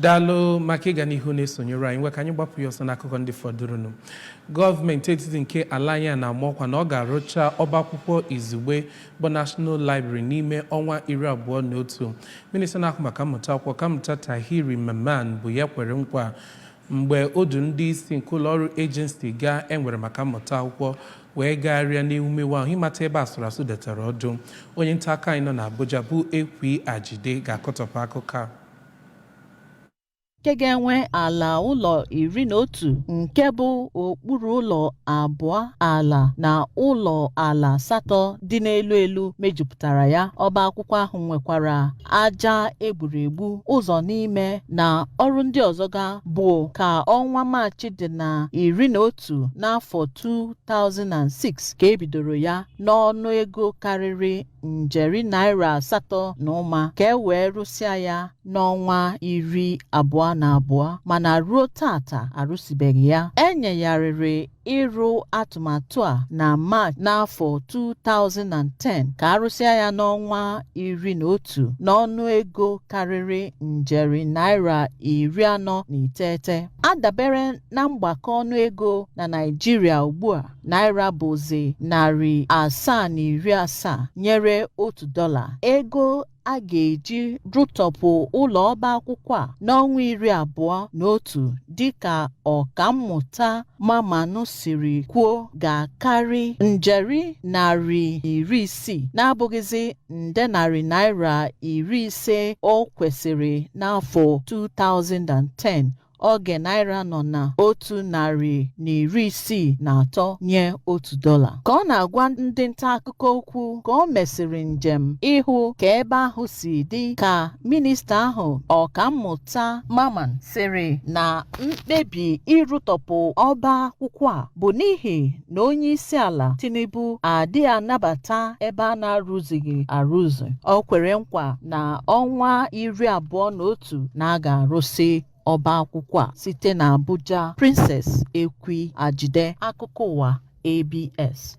Daalụ maka ịga n'ihu na-esonyere anyị ngwa ka anyị gbapụ ya ọsọ n'akụkọ ndị fọdụrụnụ gọọmenti etiti nke ala anyị a na-ama ọkwa na ọ ga-arụcha ọba akwụkwọ izugbe bụ National Library n'ime ọnwa iri abụọ na otu minista na-ahụ maka mmụta akwụkwọ ọkammụta Tahir Mamman bụ ya kwere nkwa mgbe o du ndị isi nke ụlọ ọrụ ejensi ga e nwere maka mmụta akwụkwọ wee gagharịa n'ewumewu ahụ ịmata ebe asụrụ asụ detara ọdụ onye nta akụkọ anyị nọ n'Abuja bụ Ekwi Ajide ga-akọtọpụ akụkọ a nke ga-enwe ala ụlọ iri na otu nke bụ okpuru ụlọ abụọ ala na ụlọ ala asatọ dị n'elu elu mejupụtara ya ọba akwụkwọ ahụ nwekwara aja e gburu egbu ụzọ n'ime na ọrụ ndị ọzọ ga bụ ka ọnwa Maachị dị na iri na otu n'afọ 2006 ka e bidoro ya n'ọnụ ego karịrị njeri naira asatọ na ụma ka e wee rụsịa ya n'ọnwa iri abụọ na abụọ mana ruo taata arụsibeghị ya e nyegharịrị ịrụ atụmatụ a na Maachị n'afọ 2010 ka a rụsịa ya n'ọnwa iri na otu n'ọnụ ego karịrị njeri naira iri anọ na iteghete a dabere na mgbakọ ọnụ ego na Naịjirịa ugbu a naira bụzi narị asaa na iri asaa nyere otu dọla ego a ga-eji rụtọpụ ụlọ ọba akwụkwọ a n'ọnwa iri abụọ na otu dịka ọkammụta Mamman siri kwuo ga-akarị njeri narị na iri isii na-abụghịzi nde narị naira iri ise o kwesịrị n'afọ 2010 oge naira nọ na otu narị na iri isii na atọ nye otu dọla ka ọ na-agwa ndị nta akụkọ okwu ka o mesịrị njem ịhụ ka ebe ahụ si dị ka minista ahụ ọkammụta Mamman sịrị na mkpebi ịrụtọpụ ọba akwụkwọ a bụ n'ihi na onye isi ala Tinubu adịghị anabata ebe a na-arụzighị arụzi o kwere nkwa na ọnwa iri abụọ na otu tu na a ga-arụsị ọba akwụkwọ a site na Abuja, Princess Ekwi Ajide, Akụkọ Ụwa, ABS.